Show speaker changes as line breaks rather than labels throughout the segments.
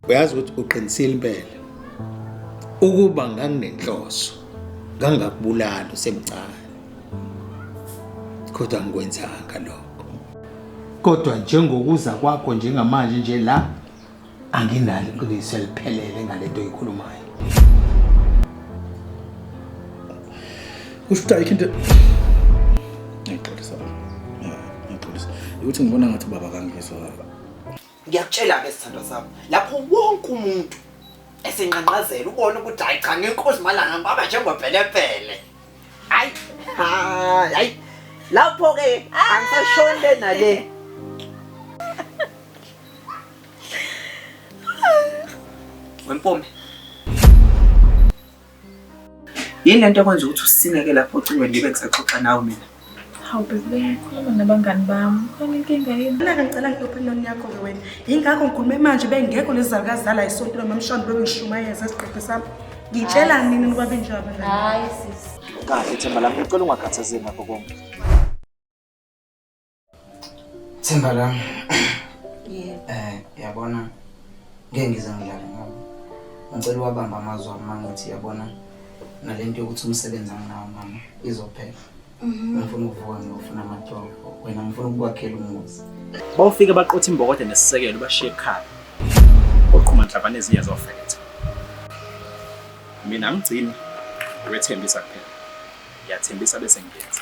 uyazi ukuthi uqinisile impela ukuba nganginenhloso ngangakubulala usemncane kodwa ngikwenzanga lokho kodwa njengokuza kwakho njengamanje nje la anginalo iqiniso eliphelele ngale nto oyikhulumayo
ushuthi ayikho into ngixolisa ngixolisa ukuthi ngibona ngathi ubaba kangizwa
ngiyakutshela-ke sithandwa sami lapho wonke umuntu esenqanqazela ubona ukuthi hayi cha ngenkosi malanga ngibaba njengopelepele hayi hayi hayi lapho-ke angisashonile nale Wempume. Yini lento ekwenza ukuthi usineke lapho ucingo ngibe ngisaxoxa nawe mina? Hawu bebe,
khuluma nabangani bami. Khona inkinga yini? Mina ngicela ngiyophiloni
yakho ke wena. Yingakho ngikhulume manje bengekho lezi zakazala isonto noma mshwana bebe ngishumayeza isiqephe sami. Ngitshela nini ukuba benjalo abangani? Hayi sisi.
Kahle themba lami,
ngicela ungakhathazeki ngakho konke. Themba lami. Yebo. Eh, yabona ngeke ngize ngidlale ngabo. Ngicela uwabamba amazwi ami mangithi yabona nalento yokuthi umsebenzi anginawo mama izophela. Mhm. Ngifuna ukuvuka ngiyofuna amatoho. Wena ngifuna ukukwakhela umuzi. Bawufike baqotha
imbokode nesisekelo bashiye ekhaya. Oqhuma nhlabane ezinye zofetha. Mina ngigcina wethembisa kuphela. Ngiyathembisa bese ngiyenza.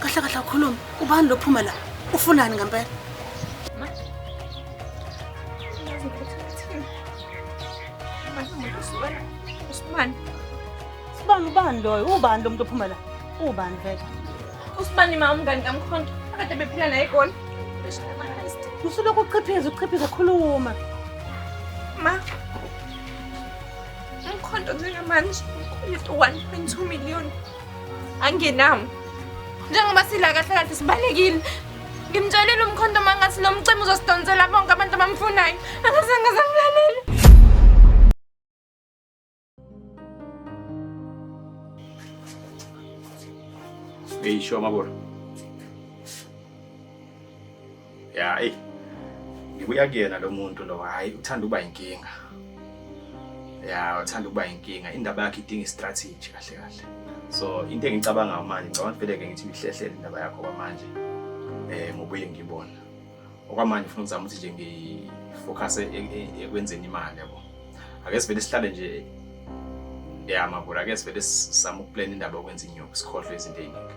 kahle kahle ukhuluma ubani lophuma la ufunani ngempela Usman. Sibani ubani loyo? Ubani lo muntu ophuma la? Ubani vele? Usman ima
umngani kamkhonto. Akade bephila naye egoli.
Usulokhu uqhiphiza uqhiphiza khuluma.
Ma, Umkhonto njengamanje ukweleta u-1.2 million angenawo njengoba sila kahle kahle sibalekile ngimtshelile umkhonto uma ngathi lo mcimbi uzosidonsela bonke abantu abamfunayo angazange azangilalele
Hey, show my boy. ya eyi ngibuya kuyena lo muntu lo hhayi uthanda ukuba yinkinga ya uthanda ukuba yinkinga indaba yakhe idinga istrategy kahle kahle so into engicabangayo manje ngicabanga ukuthi vele-ke ngithi ngihlehlele indaba yakho kwamanje um eh, ngobuyile ngibona okwamanje ufuna ukuzama ukuthi nje ngifocuse e, e, ekwenzeni imali yabo ake sivele sihlale nje ya mabura ake sivele sizama ukuplana indaba yokwenza inyuku sikhohlwe izinto ey'ningi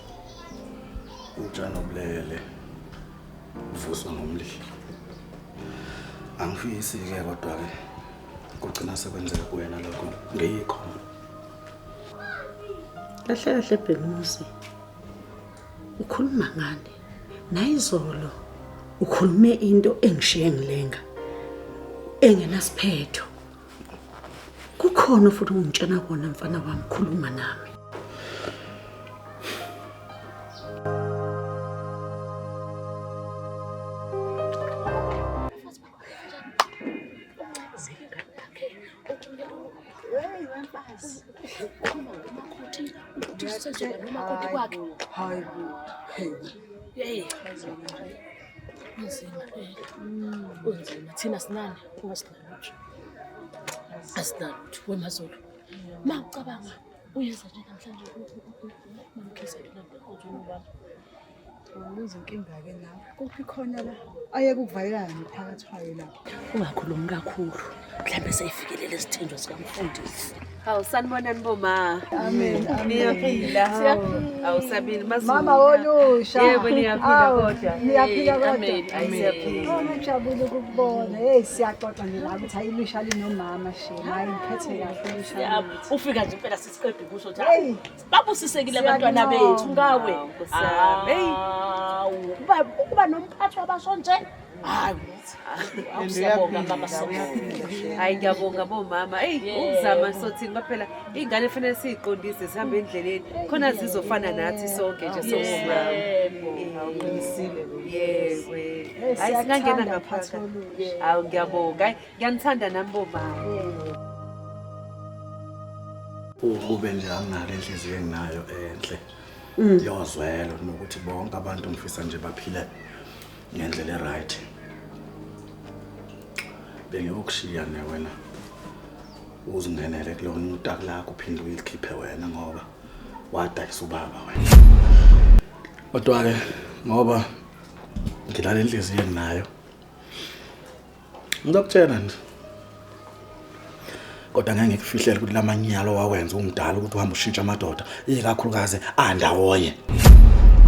Utshani obulele uvuswa ngomlilo. Angifisi-ke kodwa-ke kugcina sekwenzeka kuwena lokho ngiyikho.
Kahle kahle Bhekumuzi. Ukhuluma ngani? Nayizolo ukhulume into engishiye ngilenga engenasiphetho. Kukhona futhi ungitshena kona mfana wami khuluma nami.
Kunzima. Thina sinani. asinalutho wemazulu ma ucabanga uyenza nje namhlanje mamkhizele nantokozonobantu
Ubuza inkinga-ke la kuphi khona la ayeke ukuvalelana nophakathi wayo lapho ungakhulumi
kakhulu mhlawumbe seyifikelele isithenjwa sikamfundisi Hawu sanibonani
boma. Amen.
Niyaphila.
Hawu sabini mazulu. Mama wolusha.
Yebo niyaphila
kodwa. Niyaphila kodwa. Amen.
Siyaphila.
Oh ngijabule
ukubona. Hey siyaxoxa nje la ukuthi ayilusha linomama shema. Hayi ngiphethe kahle lusha. Yabo ufika nje impela
sisiqede kusho ukuthi hayi babusisekile abantwana bethu ngawe. Hey.
Uba
uba nomphathi wabasho nje. hayi awusiyabonga mama hayi ngiyabonga
bomama eyi ukuzama sothini baphela iy'ngane fanele siyiqondise zihambe endleleni khona zizofana nathi sonke nje sowomama hayi singangena ngaphakathi hawu ngiyabonga hayi ngiyanithanda nami bomama
ukube nje anginale inhliziyo enginayo enhle mm. yozwelo nokuthi bonke abantu ngifisa nje baphile ngendlela eright bengiyokushiya ne wena uzingenele kulona utaki lakho uphinde uyilikhiphe wena ngoba wadayisa ubaba wena kodwa-ke ngoba ngilala enhliziyweni nayo Ngizokutshela nje. Kodwa ngeke ngikufihlele ukuthi lamanyalo wawenza umdala ukuthi uhamba ushintsha amadoda, ikakhulukazi andawonye.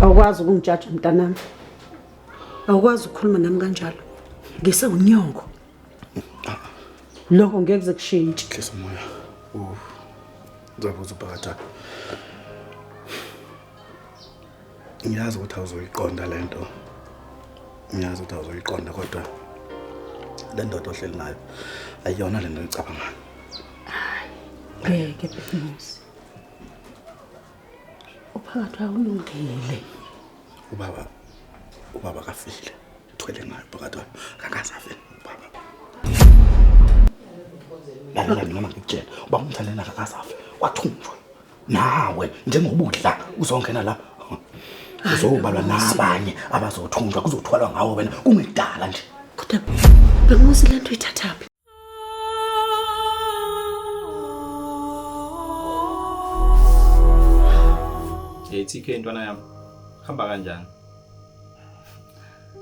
Awukwazi
ukungijaja mntanami. Awukwazi ukukhuluma nami kanjalo. Ngise unyongo. Lokho ngeke kuze kushintshe. Hlisa umoya.
Uh. Ngizobuza ubhakatha. ngiyazi ukuthi awuzoyiqonda le nto ngiyazi ukuthi awuzoyiqonda kodwa le ndoda ohleli nayo ayiyona le nto ecabangayo ngeke
bhekumuzi uphakathi wakulungile ubaba
ubaba kafile uthwele ngayo phakathi wayo akakazafe ubaba lalela noma ngikutshela uba umthandela akakazafe wathunjwa nawe njengoba udla uzongena la uzobalwa nabanye abazothunjwa kuzothwalwa ngawo wena kungidala nje kodwa
benguzi le nto uyithathaphi
Hey TK ntwana yami. Hamba kanjani?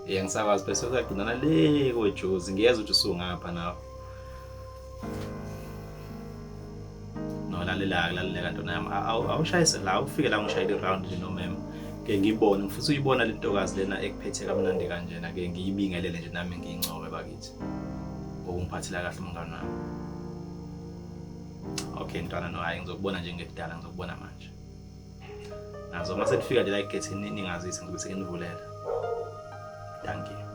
Yeah, ngisakwazi bese usagcinana le kojuzi ngiyeza ukuthi usungapha nawe. No lalela lalela ntona yami awushayise la ufike la ngishayile round nje no mem. Ke ngibone ngifisa uyibona le ntokazi lena ekuphethe kamnandi kanjena ke ngiyibingelele nje nami ngiyincobe bakithi. Ngokungiphathela kahle umngane wami. Okay ntwana no hayi ngizokubona nje ngekudala ngizokubona manje. nazo uma senifika nje la egethini ningazise ngizobe senginivulela thank you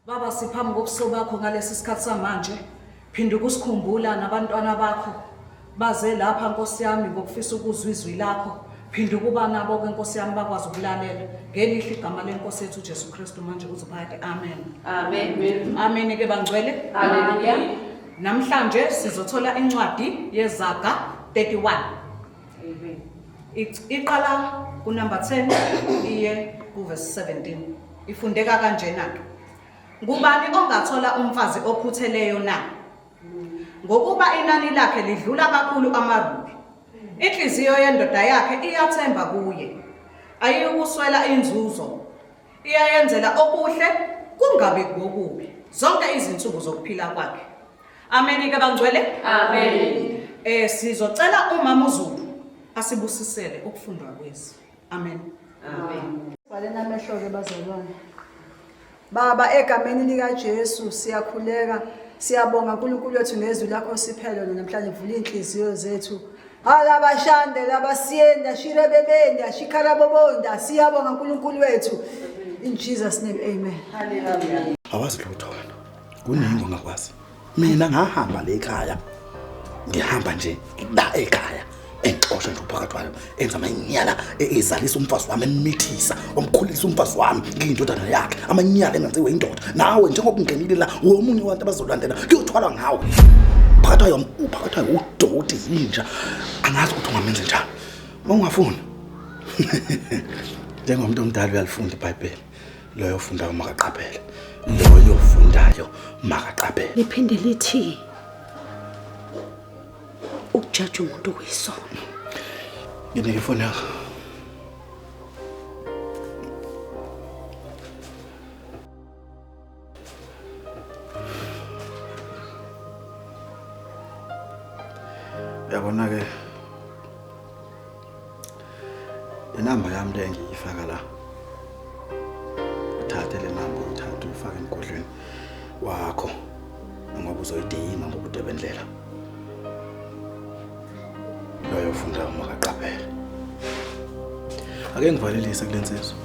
Baba siphambi kobuso bakho ngalesi sikhathi samanje Phinda ukusikhumbula nabantwana bakho baze lapha Nkosi yami ngokufisa ukuzwa izwi lakho. Phinda ukuba nabo ke Nkosi yami bakwazi ukulalela. Ngelihle igama lenkosi yethu uJesu Kristu manje kuze phakade. Amen. Amen.
Amen ke bangcwele.
Hallelujah.
Namhlanje
sizothola incwadi yezaga 31. Amen.
Ic- Iqala
kunumber 10 iye kuverse 17. Ifundeka kanjena ke. Ngubani ongathola umfazi okhutheleyo na? Ngokuba inani lakhe lidlula kakhulu amarubi. Inhliziyo yendoda yakhe iyathemba kuye. Ayiyukuswela inzuzo. Iyayenzela okuhle kungabi ngokubi zonke izinsuku zokuphila kwakhe. Amen ke bangcwele. Amen.
Eh sizocela
umama uZulu asibusisele ukufundwa kwezi. Amen.
Amen. Valeni amehlo-ke
bazalwane. Baba, egameni likaJesu siyakhuleka. Siyabonga uNkulunkulu wethu ngezwi lakho siphelo namhlanje vula izinhliziyo zethu. Alabashande labasiyenda shirebebenda shikarabobonda siyabonga uNkulunkulu wethu. In Jesus name amen. Hallelujah.
Awazi lutho wena.
Kuningi ongakwazi. mina ngahamba le ekhaya ngihamba nje la ekhaya engixosha nje uphakathi wayo enza amanyala e- ezalisa umfazi wami emithisa omkhulisa umfazi wami ngiyindodana yakhe amanyala engenziwe indoda nawe njengoba ungenile la womunye wabantu abazolandela kuyothwalwa ngawo phakathi wayo uphakathi wayo udoti yinja angazi ukuthi ungamenze njani uma ungafuni njengomuntu omdala uyalifunda ibhayibheli loyo ofundayo makaqaphele loyo ofundayo makaqaphele liphinde lithi
ukujaja umuntu kuyisono
nginike ifoni yakho yabona-ke inamba yami le ngiyifaka la uthathe le namba uyithathe uyifake emgodlweni wakho ngoba uzoyidinga ngokude bendlela loyo funda uma kaqaphela ake ngivalelise kule nsizwa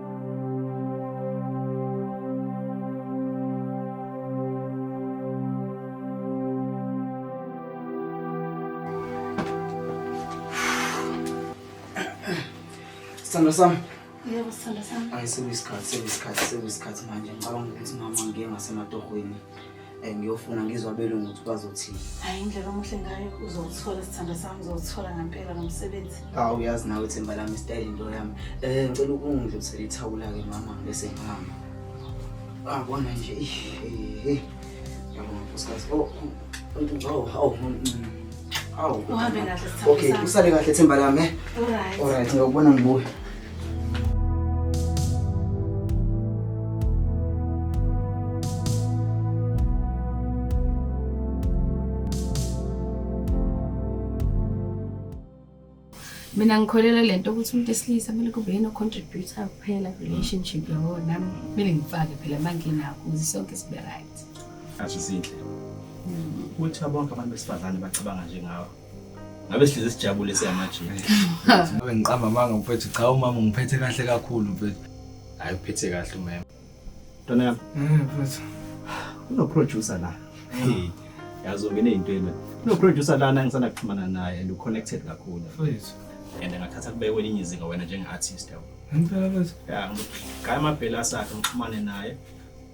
Sandra Sam. Yebo Sandra
Sam. Ayi sekuyisikhathi sekuyisikhathi
sekuyisikhathi manje ngicabanga ukuthi mama ngiye ngasematohweni. Eh, ngiyofuna ngizwa abelungu ukuthi bazothini hayi indlela omuhle
ngayo uzowuthola sithando sami uzowuthola ngempela nomsebenzi awu uyazi nawe themba
lami isitayile into yami um ngicela ukungidlulisela ithawula-ke mama bese ngihamba abona ah, nje yabona nkosikazi oh, oh, awu awu uhambe
kahle sithando okay usale kahle themba
lami eh? right ngiyokubona ngibuye
mina ngikholelwa le nto ukuthi umuntu esilisa kumele kube yena ocontributor kuphela relationship yabo nami kumele ngifake phela manginakho ukuze sonke sibe right asho zinhle
ukuthi abonke abantu besifazane bacabanga njengawe ngabe sihlezi sijabule siyamajini ngabe ngiqamba
amanga mfethu cha umama ngiphethe kahle kakhulu mfethu hayi uphethe
kahle umema ntwana yami eh
mfethu
unoproducer la yazi ungene ey'ntweni unoproducer lana engisanda kuxhumana naye and uconnected kakhulu mfethu
and ngathatha
kube kwelinye izinga wena njenge-artist yabo ngempela mfethu ya
ngigaya
amabhela asakhe ngixhumane naye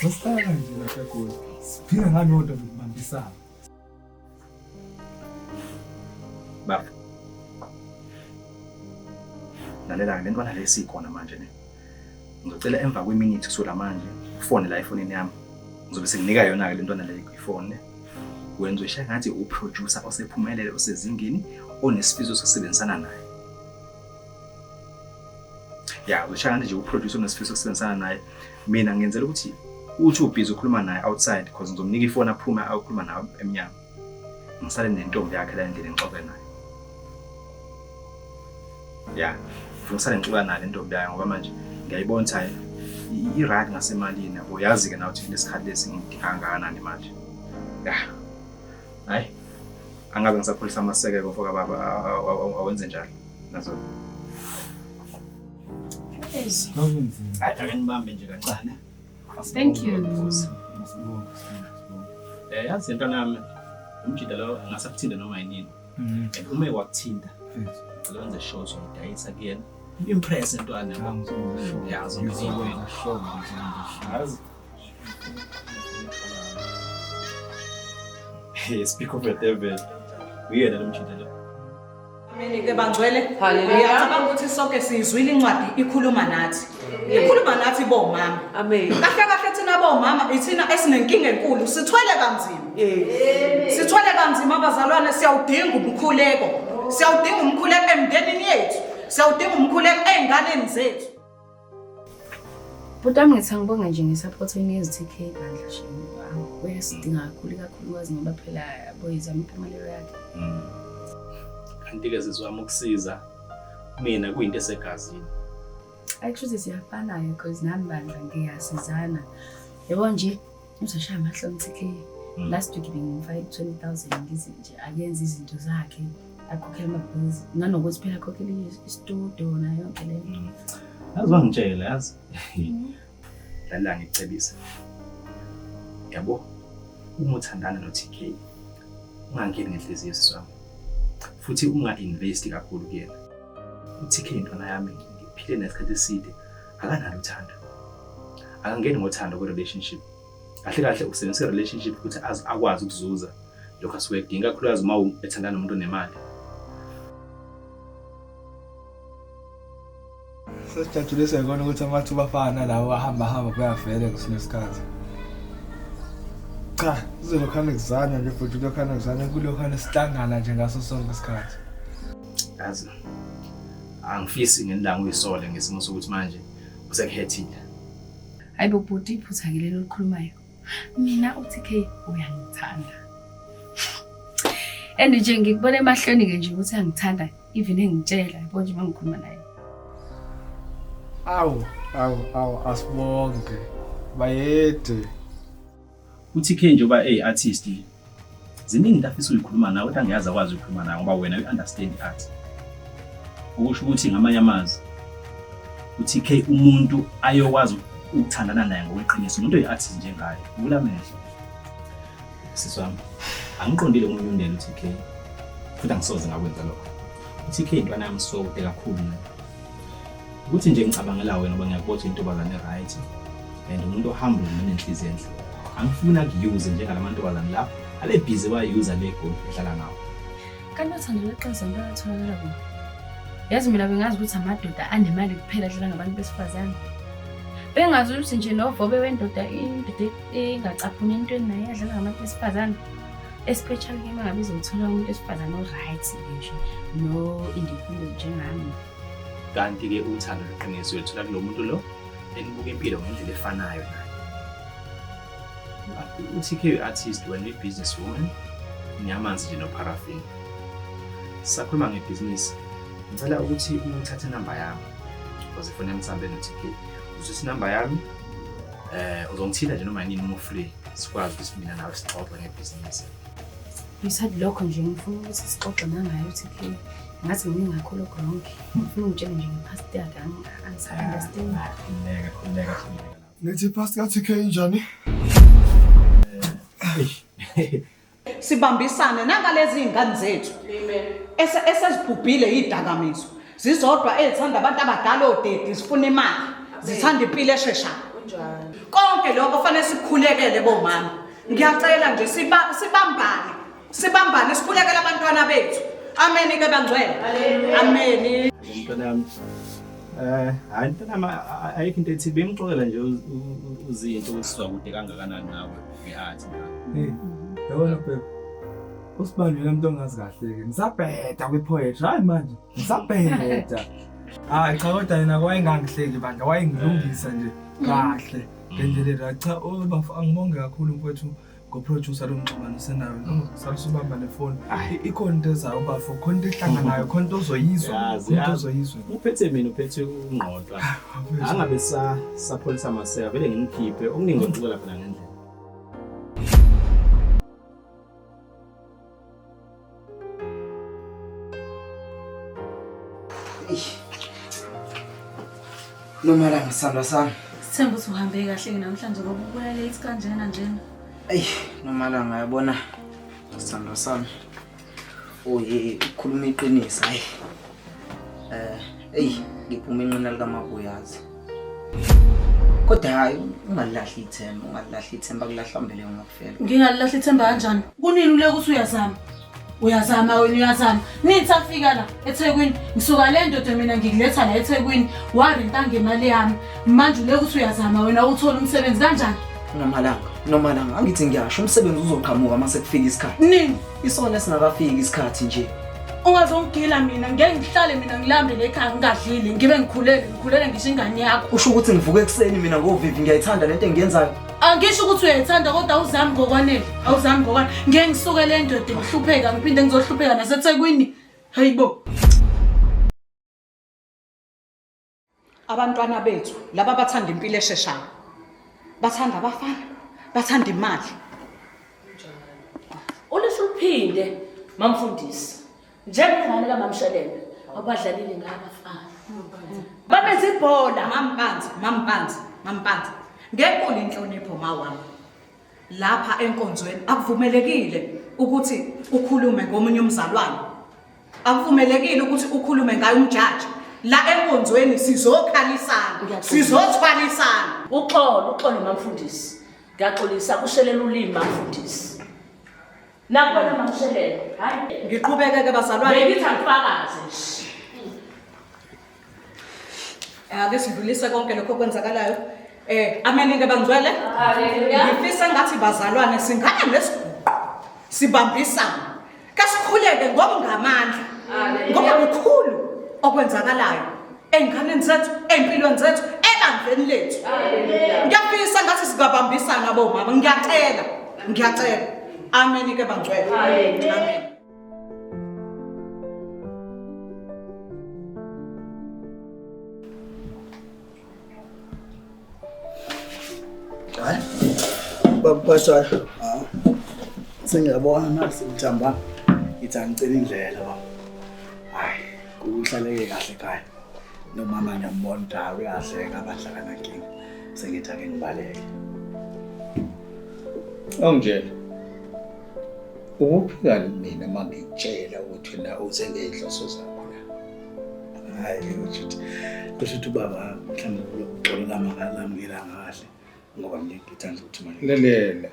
Sosala nje lapha eGoli.
Siphila ngalodwa lokubambisana. Baba. Lalela le ntwana lesi ikhona manje ne. Ngizocela emva kweminithi kusula manje ufone la efonini yami. Ngizobe senginika yona ke le ntwana le ifone. Wenza ushe ngathi uproducer osephumelele osezingeni onesifiso sokusebenzisana naye. Ya, usha ngathi nje uproducer onesifiso sokusebenzisana naye. Yeah, mina ngenzela ukuthi uthi ubhizi ukhuluma naye outside because ngizomnika ifoni aphume ayokhuluma nayo emnyango ngisale nentombi yakhe la endlini ngixoxe naye ya ngifuna usale ngixoxa nayo lentombi yayo ngoba manje ngiyayibona ukuthi i-right ngasemalini yabo yazi-ke nawe ukuthi kunesikhathi lesi ngidinga kangakanani manje ya hayi angabe ngisapholisa amasekeko fokababa awenze njalo nazo Thank you. Eh yazi into nami umjida lo angasakuthinde noma yini. Mm. Uma ekwakuthinda. Ngicela wenze show so ngidayisa kuyena. Impress entwana yabo. Yazi ngizokwenza show. Yazi. Hey, speak of the devil. Uyena lo mjida lo. Ameni-ke
bangcwele ngiyacabanga ukuthi sonke siyizwile incwadi ikhuluma nathi ikhuluma nathi bomama amen kahle kahle
thina
bomama ithina esinenkinga enkulu sithwele kanzima sithwele kanzima abazalwane siyawudinga umkhuleko siyawudinga umkhuleko emndenini yethu siyawudinga umkhuleko ey'nganeni zethu
Bhuti wami ngithi angibonge nje nge-support oyinikeza u-TK bandla shame. Uyasidinga kakhulu ikakhulukazi ngoba phela boyizama impumelelo yakhe. Mm.
Kanti-ke zizwami ukusiza mina kuyinto esegazini. Actually
siyafana-ke because nami bandla ngiyasizana. Yebo nje Uzosha amahle umthike. Mm. Last week bengimfaka 20000 ngize nje akenze izinto zakhe akhokhela amabhizi nanokuthi phela akhokhela istudio nayo yonke le nto. Yazi wangitshela
yazi. Mm. Lala ngicebise. Yabo uma uthandana no TK ungangeni ngenhliziyo siswami futhi unga-investi kakhulu kuyena uthi-ke intwana yami ngiphile nesikhathi eside akanalo uthando akangeni ngothando kwi-relationship kahle kahle usebenzisa i-relationship ukuthi akwazi ukuzuza lokho asuke edinga kakhulukazi uma ethandana nomuntu onemali
sesijatshule sekona ukuthi amathuba afana lawo ahamba hamba kuyavele kwesinye isikhathi cha kuzelokhana kuzana nje futhi kulokhana kuzana kulokhana sihlangana nje ngaso sonke isikhathi yazi
angifisi ngenilanga uyisole ngesimo sokuthi manje usekuhethile hayi
bo bhuti iphutha ke lelo likhulumayo mina uTK uyangithanda and nje ngikubona emahlweni ke nje ukuthi angithanda even engitshela yabo nje mangikhuluma naye
awu awu awu asibonge bayede
UTK njengoba eyi artist ziningi into afisa uyikhuluma nawe kodwa angiyazi akwazi ukukhuluma nawe ngoba wena you understand art. Okusho ukuthi ngamanye amazwi uTK umuntu ayokwazi ukuthandana naye ngokweqiniso umuntu oyi artist njengaye. Vula amehlo. Sisi wami angiqondile umuntu undela uTK futhi angisoze ngakwenza lokho. UTK intwana yami so kude kakhulu. ukuthi nje ngicabangela wena ngoba ngiyakubona ukuthi intombazane right and umuntu ohambile nenhliziyo enhle angifuni akuyuze njengala mantombazane la ale busy wayuza le goal edlala ngawo kanti uthando
leqiniso into atholakala kuyo yazi mina bengazi ukuthi amadoda anemali kuphela adlala ngabantu besifazane bengazi ukuthi nje novobe wendoda indoda engacaphuni entweni naye adlala ngabantu besifazane especially ke uma ngabe izothola umuntu esifazane o-right nje no-independent njengami kanti-ke
uthando lweqiniso uyolithola kulo muntu lo enibuka impilo ngendlela efanayo naye uthi ke artist wena i-business woman ngiyamanzi nje nopharafin sakhuluma ngebhizinisi ngicela ukuthi uma uthathe inamba yami because ifuna emthambe no-tk uzwisa inamba yami eh uzongithinta nje noma yini uma ufree sikwazi ukuthi mina nawe sixoxe ngebhizinisi ngisathi
lokho nje ngifuna ukuthi sixoxe nangayo uthi ngazi kuningi kakhulu okurongi ngifuna ungitshele nje ngepast yakhe angisaunderstand
ah,
khululeka khululeka khululeka ngithi ipast ka-tk injani eh,
sibambisane nangalezi iy'ngane zethu esezibhubhile iy'dakamizwa zizodwa ezithanda abantu abadala odedi zifuna imali zithanda impilo esheshayo konke lokho fanele sikukhulekele bomama ngiyacela nje sibambane sibambane sikhulekela abantwana bethu ameni ke bangcwele ameni mntwana
yami eh hayi mntwana yami ayikho into ethi bemxolela nje uzinto usizwa kude kangakanani nawe ngehathi
yabona bheka usibani yena mntu ongazi kahle-ke ngisabheda kwi-poetry hayi manje ngisabheda hayi cha kodwa yena wayengangihleki bandla wayengilungisa nje kahle ngendlela cha angibonge kakhulu mfowethu ngoproducer lomxhumano senayo no mm. salusubamba nefoni ikhona into ezayo bafo khona into ehlanganayo khona into ozoyizwa into ozoyizwa uphethe mina
uphethe ungqontwa ah, angabe sa sapholisa maseka vele ngimkhiphe okuningi okucela phela ngendlela
Noma la ngisandwa sami. Sithemba ukuthi uhambe
kahle ke namhlanje ngoba ubuya late kanjena njena. Ey,
noma la ngayabona. Sandwa sami. Oye, ukhuluma iqiniso hayi. Eh, eyi ngiphuma inqina likamabuyazi. Kodwa hayi ungalahli ithemba, ungalahli ithemba kulahla mbele ngokufela. Ngingalilahla ithemba
kanjani? Kunini uleke ukuthi uyazama? Uyazama wena uyazama. Nithi afika la eThekwini, ngisuka le ndoda mina ngikuletha la eThekwini, warenta ngemali yami. Manje uleke ukuthi uyazama wena uthole umsebenzi kanjani? Nomalanga,
nomalanga angithi ngiyasho umsebenzi uzoqhamuka uma sekufika isikhathi. Nini? Isona
esingakafiki
isikhathi nje. Ungazongigila
mina ngeke ngihlale mina ngilambele ekhaya ngingadlile ngibe ngikhulele ngikhulele ngisho ingane yakho. Usho ukuthi ngivuke ekuseni
mina ngovivi ngiyayithanda lento engiyenzayo. Angisho ukuthi
uyayithanda kodwa awuzami ngokwanele. Awuzami ngokwanele. Ngeke ngisuke le ndoda ngihlupheka ngiphinde ngizohlupheka naseThekwini. Hayibo. abantwana bethu laba bathanda impilo esheshayo bathanda abafana bathanda imali
ulisho uphinde mamfundisi njengengane kamamshelele abadlalile ngabafana babeze ibhola mampanzi mampanzi
mampanzi ngenkulu inhlonipho mawami lapha enkonzweni akuvumelekile ukuthi ukhulume ngomunye umzalwane akuvumelekile ukuthi ukhulume ngayo umjaji la enkonzweni sizokhalisana Ngiyaxolisa. sizothwalisana uxolo uxolo
mamfundisi ngiyaxolisa kushelela ulimi mamfundisi nakubona makushelela hayi ngiqhubeke ke bazalwane
bengithi angifakaze
nje
ake sidlulise konke lokho okwenzakalayo um eh, ameningi bangcwele ngifisa ngathi bazalwane singane nesiguqo sibambisane kasikhuleke ngokungamandla ngoba kukhulu okwenzakalayo ey'nganeni zethu ey'mpilweni zethu ebandleni lethu ngiyafisa ngathi singabambisana bomama ngiyacela ngiyacela ameni ke bangcwele amen
Hayi. Babuphathayo. Ah. Sengiyabona nasi ngithamba. Ngithi angicela indlela baba. Hayi, kuhlaleke kahle ekhaya. Nomama ngiyambona ukuthi hayi uyahleka abadla kanankinga. Sengithi ake ngibaleke.
Awungitshela. Ukuphikani mina uma ngikutshela ukuthi na uze ngey'nhloso zakho la? Hhayi kusho ukuthi
kusho ukuthi ubaba mhlawumbe uxolela makalamukela kahle ngoba mina ngithanda ukuthi manje Lalela.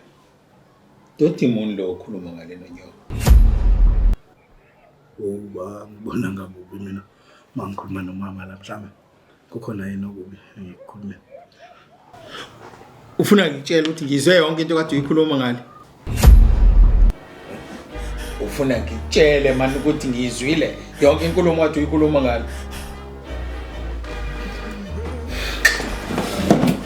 Doti muni lo okhuluma ngalena nyoka?
uba ngibona ngabubi mina uma ngikhuluma nomama la mhlawumbe kukhona yini okubi engikukhulume
ufuna ngitshela ukuthi ngizwe yonke into kade uyikhuluma ngale ufuna ngitshele mani ukuthi ngiyizwile yonke inkulumo kade uyikhuluma ngale